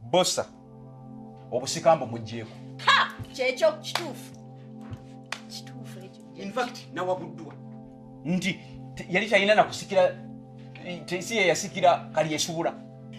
Bosa obusika mbu mujjeeko. Ha! Kyekyo kituufu. Kituufu ekyo. In fact nawabuddwa nti yali talina nakusikira si yeyasikira kali esubula.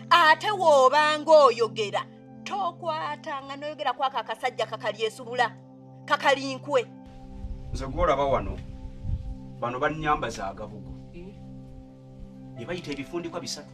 Ate woobanga oyogera tokwata nga noyogera kwako akasajja kakali esubula kakali nkwe. Nze gwolaba wano bano bannyamba za gabugu. Ebayita eh? ebifundikwa bisatu.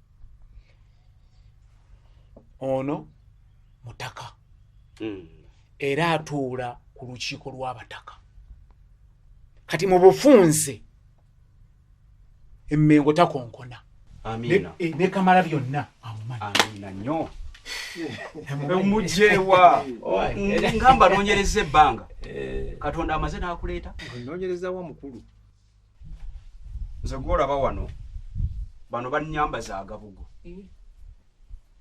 ono mutaka hmm. era atuula ku lukiiko lw'abataka kati mu bufunze emmengo takonkona eh, ne kamala byonna amumanyi omujewa ngamba nonyereza ebbanga eh. katonda amaze nakuleeta nonyereza wa mukulu nze gwolaba wano bano banyamba za gabugo eh.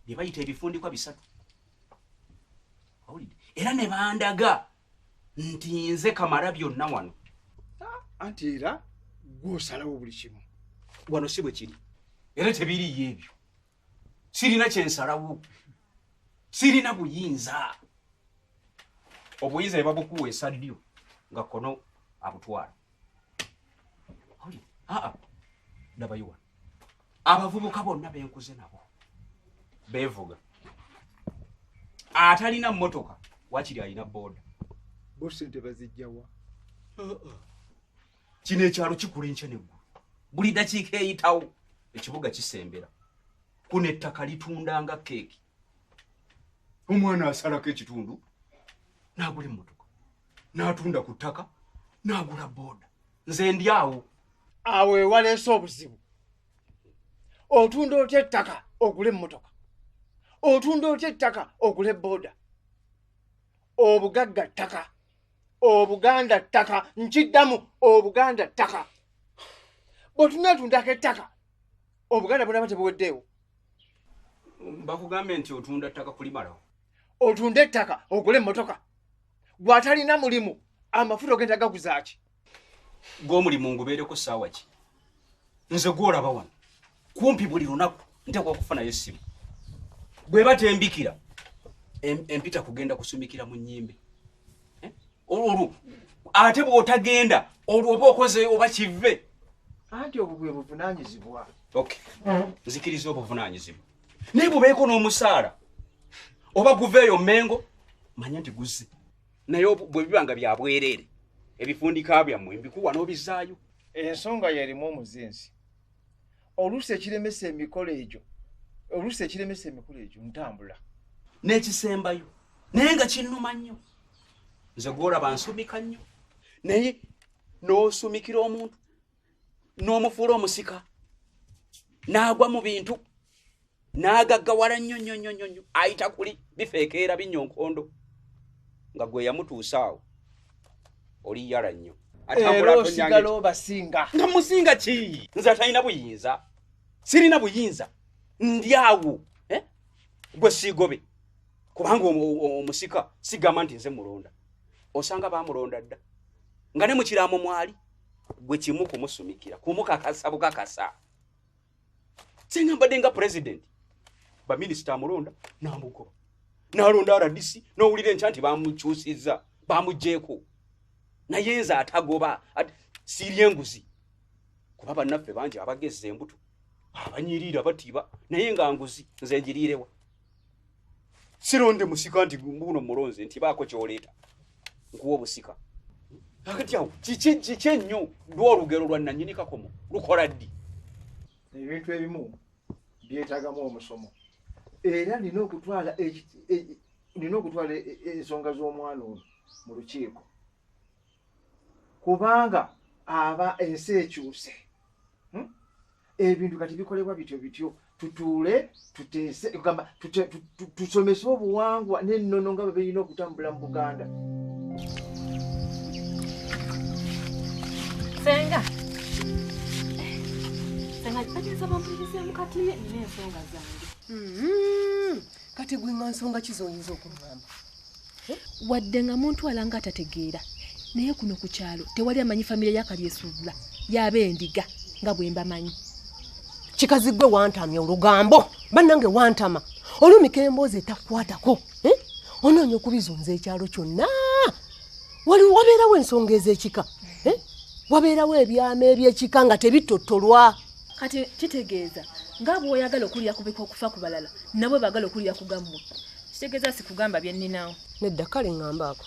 bye bayita ebifundikwa bisatu era ne bandaga nti nze kamala byonna wano ah, anti era gwosalawo buli kimu wano si bwe kiri era tebiriyo ebyo sirina kyensalawo sirina buyinza obuyinza ne babukuwa esaddyo nga kono abutwala ndabayiwa abavubuka bonna benkuze nabo bevuga atalina motoka wakiri alina boda bosente bazijjawa uh-uh. kino ekyalo kikula enkya neggulu buli dakiika eyitawo ekibuga kisembera kuno ettaka litunda nga keeki omwana asalako ekitundu nagula emotoka n'atunda ku ttaka n'agula booda nze ndi awo awo ewaleese obuzibu otunda otya ettaka ogula emmotoka otunda otya ettaka ogula ebooda obugagga ttaka obuganda ttaka nkiddamu obuganda ttaka bwetunatundako ettaka obuganda bunaba tebuweddeewo bakugambye nti otunda ttaka kulimalawo otunda ettaka ogula emmotoka gwe atalina mulimu amafuta ogenda gaguzaaki gwe omulimu ngubeereko saawa ki nze gwolaba wano kumpi buli lunaku nteekwa okufunayo essimu bwe batembikira empita kugenda kusumikira mu nyimbe eh? olwo ate bwotagenda olwo oba okoze oba kive anti obwo bwe buvunanyizibwa nzikiriza obuvunanyizibwa naye bubeeko n'omusaala oba guveeyo mengo manya nti guzze naye bwe biba nga byabwereere ebifundika byammwe mbikuwa n'obizaayo ensonga yerimu omuzinzi oluusi ekiremesa emikolo egyo oluusi ekiremesa emikolo egyo ntambula n'ekisembayo naye nga kinnuma nnyo nze gwolaba nsumika nnyo naye n'osumikira omuntu n'omufuula omusika n'agwa mu bintu n'agaggawala nnyo nnyo nnyo nnyo nnyo ayita kuli bifeekeera binnya onkondo nga gwe yamutuusa awo oli yala nnyo era osigala obasinga nga musinga ki nze atalina buyinza sirina buyinza ndi awo eh? gwe siigobe kubanga omusika sigamba nti nze mulonda osanga bamulonda dda nga ne mukiraamo mwali gwe kimu kumusumikira kumukakasa bukakasa singa mbadde nga president baminisita amulonda namugoba nalonda rdc nowulira enkya nti bamukyusiza bamugjeeko naye nze atagoba siirya enguzi kuba bannaffe bangi abagezza embuto abanyiriira batiba naye nga nguzi nze njiriirewa sironde musika nti mbuno mulonze nti baako kyoleeta nkuwa obusika akati awo kiki kiki ennyo lwa olugero lwa nanyini kakomo lukola ddi ebintu ebimu byetagamu omusomo era nina okutwala e, nina okutwala e, e, ensonga z'omwana ono mu lukiiko kubanga aba ensi ekyuse hmm? ebintu kati bikolebwa bityo bityo tutuule tuteese kugamba tusomese obuwangwa n'ennono nga bwe birina okutambula mu buganda senga senga kitegeeza bampulirizeemu kati nina ensonga zange hmm. kati gwe nga nsonga ki zoyinza okungamba wadde nga muntu alanga atategeera naye kuno ku kyalo tewali amanyi famire yakalyesuubula yaaba endiga nga bwe mbamanyi kikazi gwe wantamya olugambo bannange wantama olumika emboozi etakukwatako eh? onoonya okubizunza ekyalo kyonna waliwo wabeerawo ensonga ez'ekika eh? wabeerawo ebyama eby'ekika nga tebitottolwa kati kitegeeza nga bwoyagala okuwulira kubika okufa ku balala nabwe bagala okuwulira kugammwe kitegeeza sikugamba byenninawo nedda kale ngambaako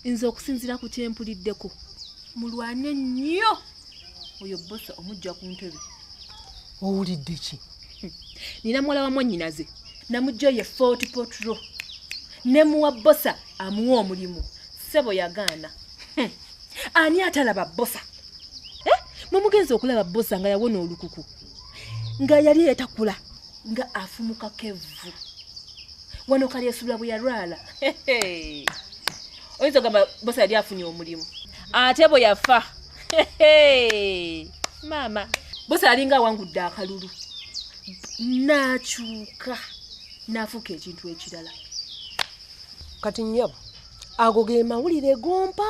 nze okusinzira ku kyempuliddeko mulwane nnyo oyo bosa omujja ku ntebe owulidde ki nina muwala wa mwannyinaze namujja oye fort potro ne muwa bosa amuwa omulimu ssebo yagaana hmm. ani atalaba bosa eh, mumugenzi okulaba bosa nga yawona olukuku nga yali eyatakula nga afumuka kevvu wano kali esubula bwe yalwala oyinza ogamba bosa yali afunye omulimu ate bwe yafa maama bosa yalinga awangudde akalulu nakyuka nafuuka ekintu ekirala kati nyabo ago ge mawulire gompa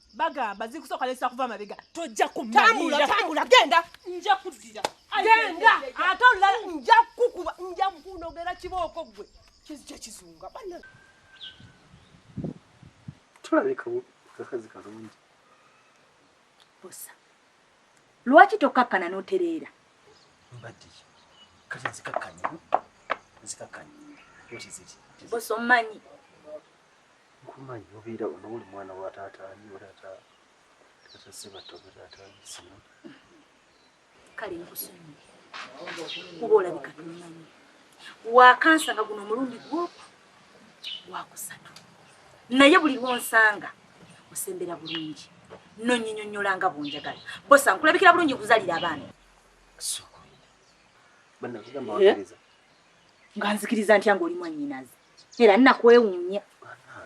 bagamba zikusooka lesa kuva mabega tojja kumatambula genda nja kuddira genda ate olulala nja kukuba nja kunogera kibooko gwe kizija kizunga bana tulabika kakazi kalungi bosa lwaki tokakkana n'otereera mbadde kati nzikakkanye nzikakkanye bosa omumanyi Nkumanyi obeera wano oli mwana wa taata ani oli ata taata Sebatta oba taata ani sino. Kale nkusonyiye kuba olabika tomanyi wakansanga guno omulundi gwoku gwakusatu naye buli lwonsanga osembera bulungi nonyinyonyola nga bwonjagala bosa nkulabikira bulungi kuzalira abaana nga nzikiriza ntya nga oli mwanyinazi era nakwewuunya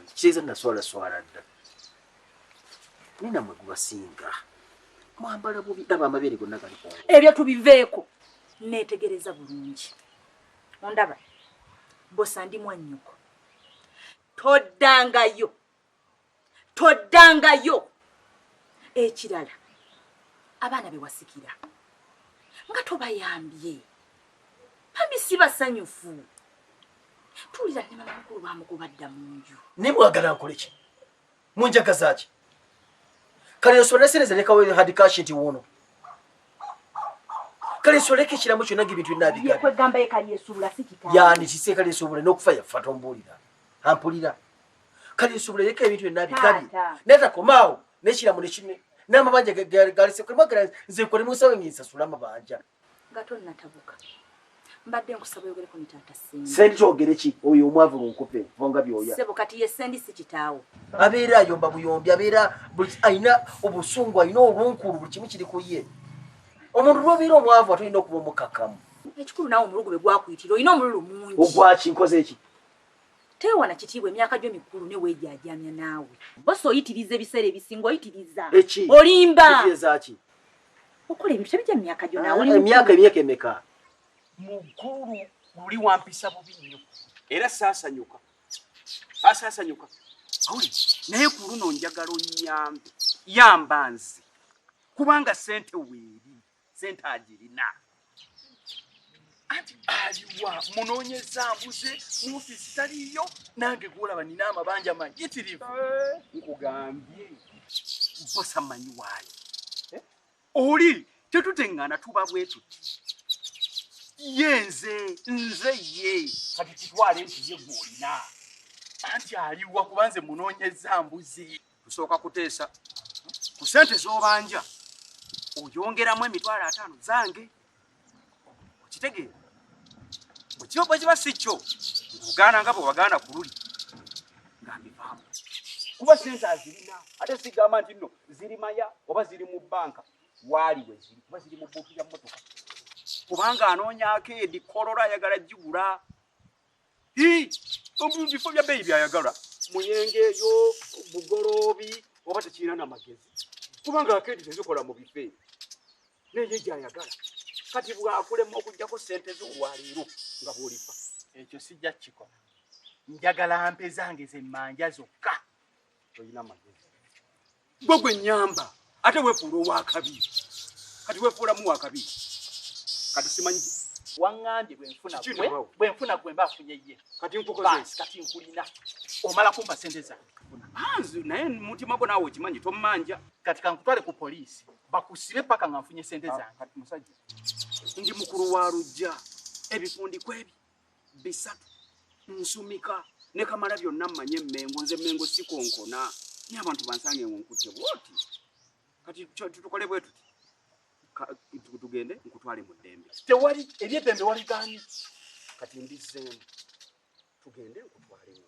kiteeza naswala swala dda naye namwe gubasinga mwambala bubi aba amabeere gonna gali ku ebyo tubiveeko neetegereza bulungi ondaba bosa ndi mwannyoko toddangayo toddangayo ekirala abaana bewasikira nga tobayambye bambi si basanyufu tuwulira ne mamakulu bamukubadda mu nju naye mwagala nkole ki munjagaza ki kale nsobole sereza lekawo hadikashi nti wuuno kale nsoleka ekiramu kyonna nga ebintu binabigabyani kiseekale nsobole n'okufa yafa tombuulira ampulira kale nsubula yeka ebintu byonna bikabi naye takomaawo nekiramu nekine n'amabanja galisekwemagala nze nkole musawo ngensasula amabanja nga tonnatabuka mbadde nkusaba oyogereko ne taata sendi sendi kyogere ki oyo omwavu lunkupe vonga byoya sebo kati ye sendi si kitaawo abeera ayomba buyombi abeera alina obusungu alina olunkulu buli kimu kiri ku ye omuntu lwobeera omwavu atolina okuba omukakamu ekikulu naawe omulugu be gwakuyitira olina omululu mungi ogwaki nkoze eki Tewana kitiibwa emyaka gyo mikulu ne wejaajamya naawe. Boss oyitiriza ebiseera ebisinga oyitiriza. Eki. Olimba. Eki ezaki. Okole ebintu tebija myaka gyo naawe. Ah, emyaka emyaka emeka. Mukulu luli wampisa bubi nnyo. Era saasanyuka. Asaasanyuka. Awuli naye ku luno njagala onnyambe. Yamba nze. Kubanga sente weeri. sente agirina anti aliwa munonyeza mbuze muofisi taliyo nange gwolaba nina amabanja mayitirivu eh. nkugambye bosa manyi waayo eh? oli tetutengana tuba bwetuti ye nze nze ye kati kitwale nti ye gwolina anti aliwa kubanze munonyeza mbuzi tusooka kuteesa ku sente z'obanja oyongeramu emitwalo ataano zange okitegeera bwekibabwe kiba si kyo ogaana nga bwewagaana ku luli nga mivaamu kuba sente azirina ate sigamba nti nno ziri maya oba ziri mu bbanka waali we ziri kuba ziri mu bbuutu ya mmotoka kubanga anoonyaako edi kolola ayagala gigula mu bifo bya bbeeyi byayagala muyenge eyo bugoloobi oba tekirina na magezi kubanga akeedi tezikola mu bifo ebyo naye gyayagala kati bwakulema okugyako sente zo olwaleero nga bwolifa ekyo sijja kukikola njagala mpe zange zemmanja zokka tolina magezi gwe gwe nyamba ate wefuula owakabi kati wefuulamu wakabi kati simanyi wangambye bwenfuna gwe bwenfuna gwe mba afunye ye kati nkukoze kati nkulina omala kumpa sente zange anzi naye mutima gwo naawe okimanyi tommanja kati kankutwale ku poliisi bakusibe paka nga nfunye sente ah, zange kati musajja ndi mukulu wa lujja ebifundikwa ebyo bisatu nsumika ne kamala byonna mmanye emmengo nze emmengo sikonkona naye abantu bansange ngo nkutte bwoti kati tutukole bwe tuti tugende nkutwale mu ddembe tewali ebyeddembe waligaanyi kati mbizzeemu tugende nkutwalemu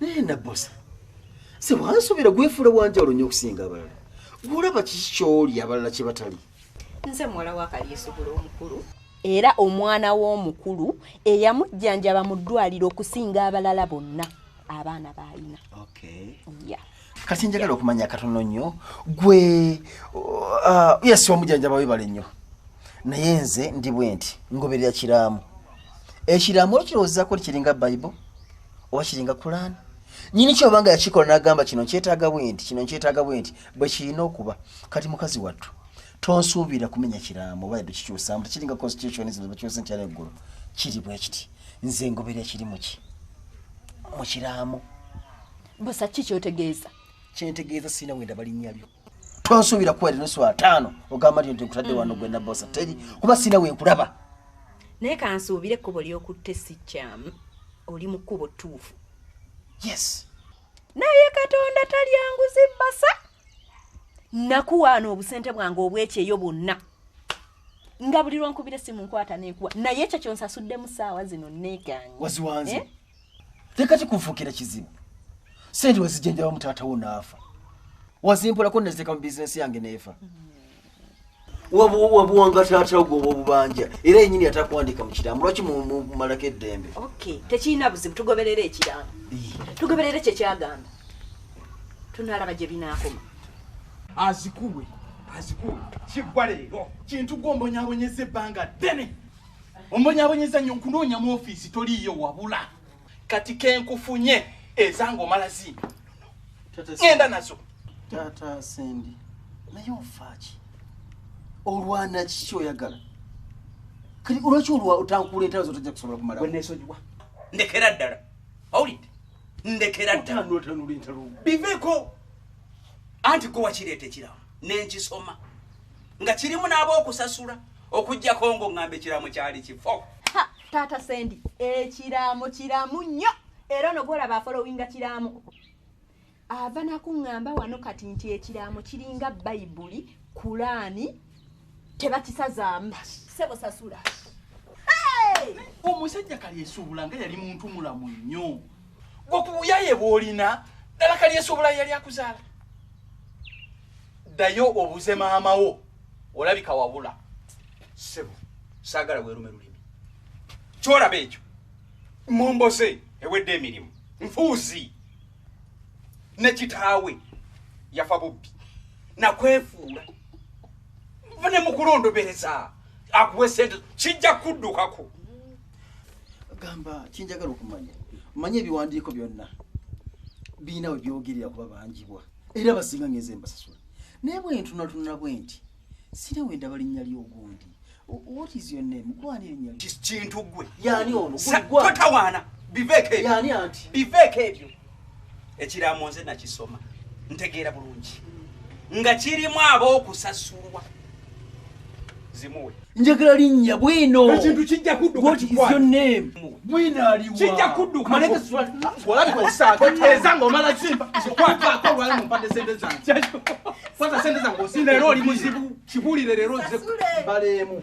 naye nabbosa sebo ansobera gwefuula wanjawulo nnyo okusinga abalala gwolaba kiki kyoli abalala kye batali nze muwala wakalyesobola omukulu era omwana w'omukulu eyamujjanjaba mu ddwaliro okusinga abalala bonna abaana baalina okay. yeah. kati njagala okumanya katono nnyo gwe uh, yes omujanjaba webale nnyo naye nze ndi bwe nti ngoberera kiramu ekiramu okirowoozako ti kiringa bible oba kiringa kulaani nyini kyoba nga yakikola nagamba kino nkyetaaga bwe nti kino nkyetaaga bwe nti bwe kirina okuba kati mukazi wattu tonsuubira kumenya kiramu oba yadde kikyusamu tekiringa constitution zino bakyusa ntyana eggulu kiri bwe kiti nze ngoberera kiri muki mu kiramu Bosa ki kyotegeeza? Kyentegeeza sirina wenda balinnya lyo. Tonsuubira kuwera nusu ataano ogamba nti nkutadde wano gwe na bosa teri kuba sirina we nkulaba. Naye kansuubire ekkubo ly'okutte si kyamu oli mu kkubo ttuufu. Yes. Naye Katonda talyanguzi basa. Nakuwaana obusente bwange obwekyeyo bwonna. nga buli lwonkubira esimu nkwata nenkuwa naye ekyo kyonsasuddemu saawa zino negange waziwanze eh? leka kikunfuukira kizibu sente wezijenjabamu taata wo naafa wazimpolako neziteeka mu bizinensi yange neefa wabuwanga taata wo gwoba obubanja era yenyini atakuwandiika mu kiramu lwaki mumalako eddembe tekirina buzibu tugoberera ekiramu tugoberera ekyo kyagamba tunalaba gye binaakoma azikuwe azikuwe kiggwa leero kintu gwombonyabonyeza ebbanga ddene ombonyabonyeza nnyo nkunoonya mu ofiisi toliiyo wabula kati kenkufunye ezange omala zimbi ŋenda nazo taata sendi naye ofaaki olwana kiki oyagala kati olwaki olwa otankuula entalo zo tojja kusobola kumala wenesonyiwa ndekera ddala awulidde ndekera ddalaotanula entalo biveeko anti gwe wakireeta ekirawo nenkisoma nga kirimu n'abookusasula okujjako ngo ŋŋamba ekiraamo kyali kifo taata sendi ekiraamo kiramu nnyo era ono gwolaba afolowinga kiraamo ava nakuŋŋamba wano kati nti ekiraamo kiringa bayibuli kulaani tebakisazaamu sebo sasula omusajja kali esuubula nga yali muntu mulamu nnyo gwokubuyaye bwolina dala kalyesobola yali akuzaala ddayo obuze maamawo olabika wabula sebo saagala weerume lulimi kyolaba ekyo mumboze ewedde emirimu nfuuzi ne kitaawe yafa bubbi nakwefuula ne mukulondobereza akuwe sente kijja kuddukako gamba kyenjagala okumanya manya ebiwandiiko byonna birina we byogerera kuba banjibwa era basinga ngenze mbasasula naye bwentunatunula bwe nti sire we ndaba linnya ly'ogundi what is your name gwani erinnya kintu gwe yani ono gwani totawaana biveeko ebyo yani anti biveeko ebyo ekiraamo nze nakisoma ntegeera bulungi nga kirimu ab'okusasulwa zimuwe njagala linnya bwino ekintu kijja kuddukaijja kuddukaeza ngaomala zikwatako olwali mumpade sente zange kwata sente zange osinda era oli muzibu kibulire leero ze baleemu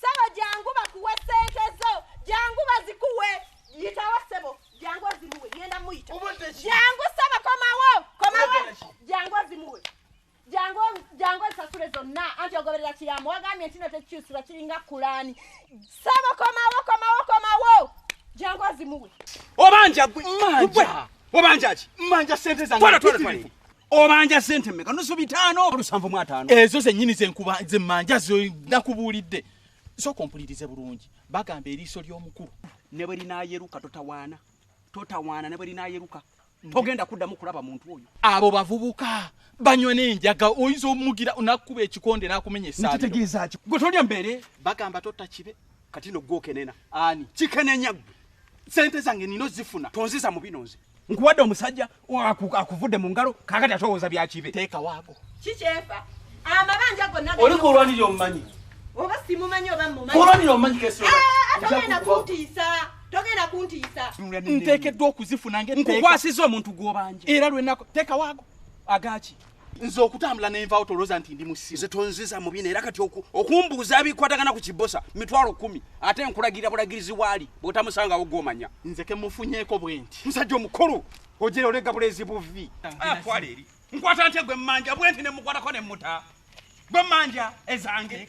Sebo jangu bakuwe sente zo jangu bazikuwe yitawo sebo jangu azimuwe ngenda muyita jangu sebo komawo komawo jangu azimuwe jangu jangu nsasule zonna anti ogoberera kiyambo wagambye ntino tekikyusibwa kiringa kulani sebo komawo komawo komawo jangu azimuwe obanja gwe obanja ki manja sente zange obanja sente meka nusu bitano olusanvu mu atano ezo zenyini zenkuba zemmanja zo nakubuulidde sooka ompulirize bulungi bagamba eriiso ly'omukulu ne bwe linaayeruka totawaana totawaana ne bwe linaayeruka togenda kuddamu kulaba muntu oyo abo bavubuka banywa n'enjaga oyinza omugira nakukuba ekikonde n'akumenya esaairo gwe tolya mbeere bagamba totta kibe kati no gwo kenena ani kikenenya gwe sente zange nino zifuna tonziza mu bino nze nkuwadde omusajja akuvudde mu ngalo kakati atowooza byakibe teeka waago kikyefa amabanja gonna oli kulwanira omumanyi oba simumanyi oba mumanyi kulwanira omumanyi kesi togenda kuntiisa togenda kuntiisa nteekeddwa okuzifuna nge nkukwasiza omuntu gw'obanja era lwenako teeka waago agaki nze okutambula nenvawo tolooza nti ndi musiru nze tonziza mubina era kati okumbuuza bikwatagana ku kibosa mitwalo kumi ate nkulagira bulagirizi waali bwotamusangawo gwomanya nze kemufunyeko bwenti musajja omukulu ojera olega bulezi buvi akwala ah, eri nkwata nte gwe mmanja bwenti nemukwatako nemuta gwe mmanja ezange